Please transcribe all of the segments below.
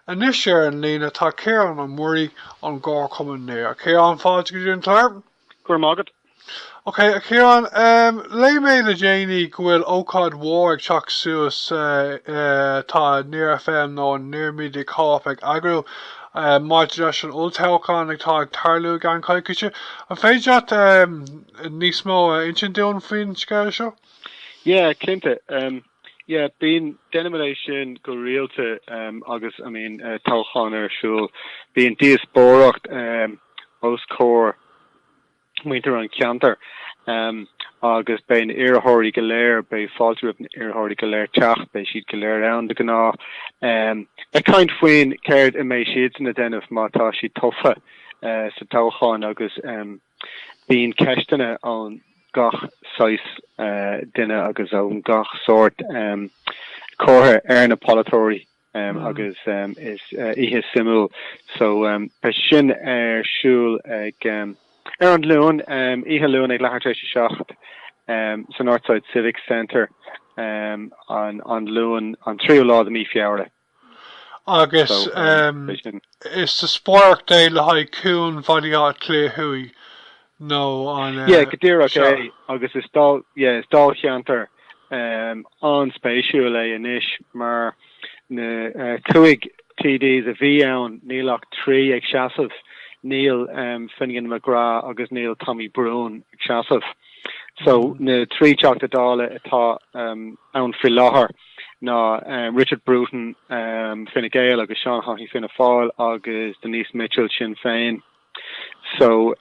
Anois ar an líne tá Ciarán Ó Muirí ón gComharchumann Near. A Chiaráin, fáilte go dtí an clár. Go raibh maith agat. Ok, a Chiaráin, léigh mé le déanaí go bhfuil ócáid mhór ag teacht suas atá Near FM nó an Near Media Co-Op ag eagrú maidir leis an olltoghchán atá ag tarlú i gceann coicíse. An féidir leat níos mó a insint dúinn faoin scéal seo? Yeah, cinnte. Yeah, bíonn, déanaimid é sin go rialta agus bíonn toghcháin ar siúl. Bíonn díospóireacht os comhair muintir an cheantair agus beidh na iarrthóirí go léir, beidh fáilte roimh na iarrthóirí go léir teacht, beidh siad go léir ann de ghnáth ag caint faoin céard a mbeadh siadsan a dhéanamh má tá siad tofa sa toghchán agus bíonn ceisteanna ó. gach saghas duine agus ó gach sórt curtha ar na polaiteoirí agus is oíche suimiúil so beidh sin ar siúl ag ar an Luan, oíche Luan ag leathuair tar éis a seacht sa Northside Civic Centre an Luan an tríú lá de mhí Feabhra. Agus is díospóireacht é le haghaidh cuan Bhaile Átha Cliath Thuaidh nó an. Yeah, go díreach é agus is dáilcheantar an-spéisiúil é anois mar na cúig TDs a bhí ann níl ach trí ag seasamh, níl Finian McGrath agus níl Tommy Broughan ag seasamh. So na trí Teachta Dála atá ann faoi láthair. ná Richard Bruton, Fine Gael, agus Seán Haughey, Fianna Fáil, agus Denise Mitchell, Sinn Féin. So,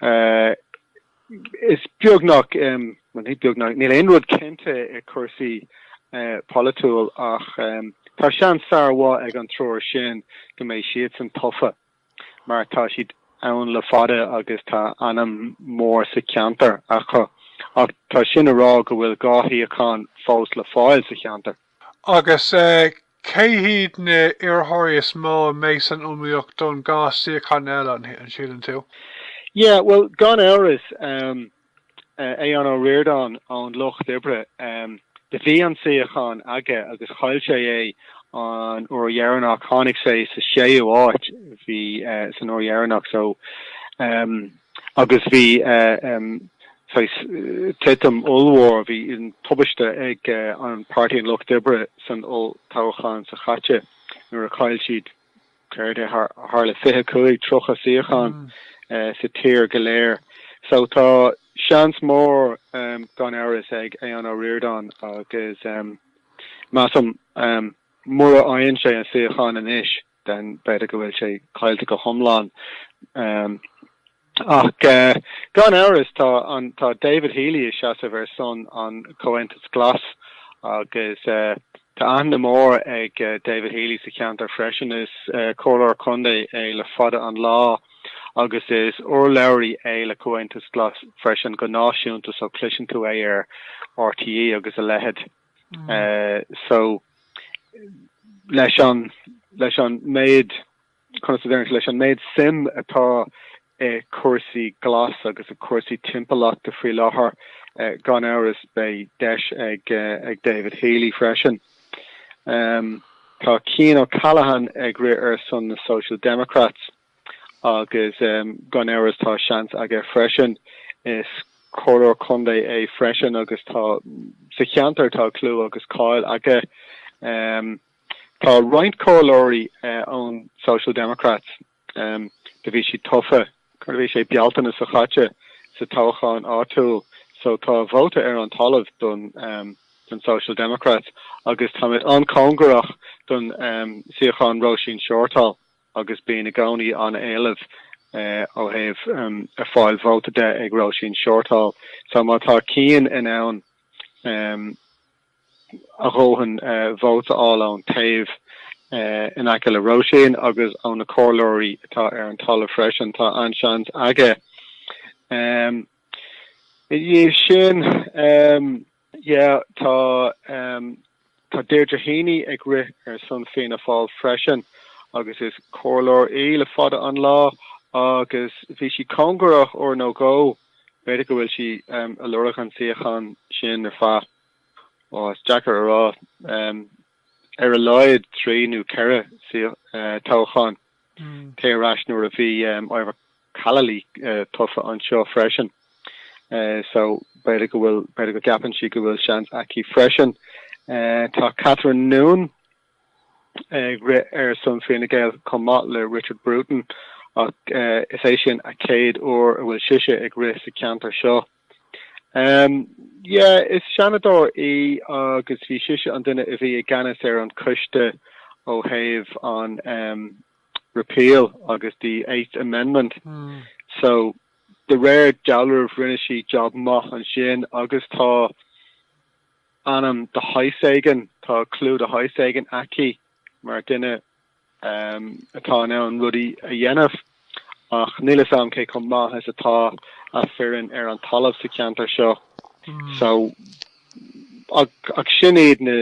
is beagnach, bhuel, ní beagnach, níl aon rud cinnte i cúrsaí polaitiúil ach tá seans an-mhaith ag an triúr sin go mbeidh siadsan tofa. mar tá siad ann le fada agus tá ainm mór sa cheantar acu, ach tá sin a rá go bhfuil dhá shuíochán fós le fáil sa cheantar. Agus cé hiad na iarrthóirí is mó a mbeidh san iomaíocht don dhá suíochán eile, an síleann tú? Yeah, bhuel, gan amhras. Aodhán Ó Ríordáin ón Lucht Oibre, do bhí an suíochán aige agus chaill sé é an uair dheireanach, tháinig sé sa séú háit bhí san uair dheireanach so agus bhí saghas titim ollmhór, bhí tubaiste ag an Páirtí an Lucht Oibre san olltoghchán seo caite nuair a chaill siad. Céard é? Thar ar 25, 30 suíochán sa tír go léir. So tá seans mór gan amhras ag Aodhán Ó Ríordáin agus measaim mura fhaigheann sé an suíochán anois den b'fhéidir go bhfuil sé caillte go hiomlán. Ach gan amhras tá David Healy ag seasamh ar son an Comhaontas Glas agus tá aithne mhór ag David Healy sa cheantar freisin. Is Comhairleoir Contae é le fada an lá agus is urlabhraí é le Comhaontas Glas freisin go náisiúnta so cloiseann tú é ar RTÉ agus a leithéid so leis an leis an méid Conas a déarfá leis an méid suim atá i cúrsaí glas agus i cúrsaí timpeallachta faoi láthair? Gan amhras beidh deis ag David Healy freisin. Tá Cian O'Callaghan ag rith ar son na Social Democrats agus gan amhras tá seans aige freisin. Is Comhairleoir Contae é freisin agus tá sa cheantar tá clú agus cáil aige. Tá roinnt comhairleoirí ón Social Democrats, do bhí siad tofa, cad a bhí sé, Bealtaine seo chaite, sa toghchán áitiúil, so tá vóta ar an talamh don Social Democrats agus táimid an-chóngarach don suíochán Róisín Shortall agus bíonn i gcónaí an-éileamh ó thaobh a fháil vóta de ag Róisín Shortall so má tá Cian in ann a dhóthain vóta a fháil ón taobh in aice le Róisín agus ó na comhairleoirí atá ar an talamh freisin, tá an-seans aige. Ina dhiaidh sin, yeah, tá Deirdre Heney ag rith ar son Fianna Fáil freisin agus is comhairleoir í le fada an lá agus bhí sí cóngarach uair nó dhó B'fhéidir go bhfuil sí a' lorg an suíochán sin ar feadh, á, is deacair a rá, ar a laghad trí nó ceithre toghchán téir ar ais nuair a bhí Ivor Callely tofa anseo freisin so b'fhéidir go bhfuil, b'fhéidir go gceapann sí go bhfuil seans aici freisin. Tá Catherine Noone. ag rith ar son Fine Gael chomh maith le Richard Bruton ach is é sin a chéad uair a bhfuil sise ag rith sa cheantar seo. Yeah, is Seanadóir í agus bhí sise an duine a bhí i gceannas ar an coiste ó thaobh an repeal agus the Eighth Amendment. Mm. So de réir dealramh rinne sí job maith ansin agus tá ainm de shaghas éigin, tá clú de shaghas éigin aici mar dhuine atá in ann rudaí a dhéanamh, ach níl fhios agam cé chomh maith is atá a foireann ar an talamh sa cheantar seo. So, ach sin iad na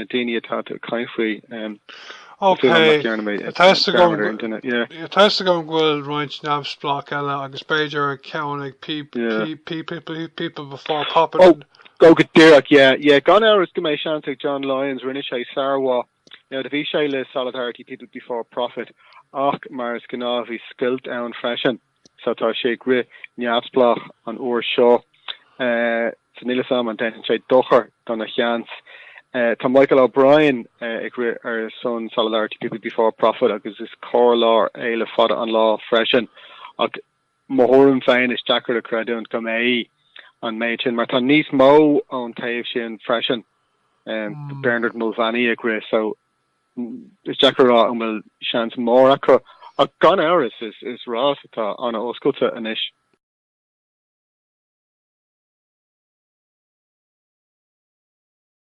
daoine atá tú ag caint faoi. Ok, tá fhios agam go bhfuil roinnt neamhspleách eile agus b'fhéidir ceann ag People Before Profit. Go díreach, yeah, yeah. Gan amhras go mbeidh seans ag John Lyons, rinne sé sármhaith, now do bhí sé le Solidarity, People Before Profit, ach mar is gnáth bhí scoilt ann freisin, so tá sé ag rith neamhspleách an uair seo. Eh, so níl 'fhios a'm an ndéanann sé dochar dona sheans. Eh, tá Michael O'Brien, eh, ag rith ar son Solidarity, People Before Profit agus is comhairleoir eile le fada an lá freisin, ach, mo thuairim féin, is deacair a chreidiúint go mbeidh an méid sin, mar tá níos mó ón taobh sin freisin, Bernard Mulvany ag rith, so is deacair a rá an bhfuil seans mór acu, ach gan amhras is rás atá an-oscailte anois.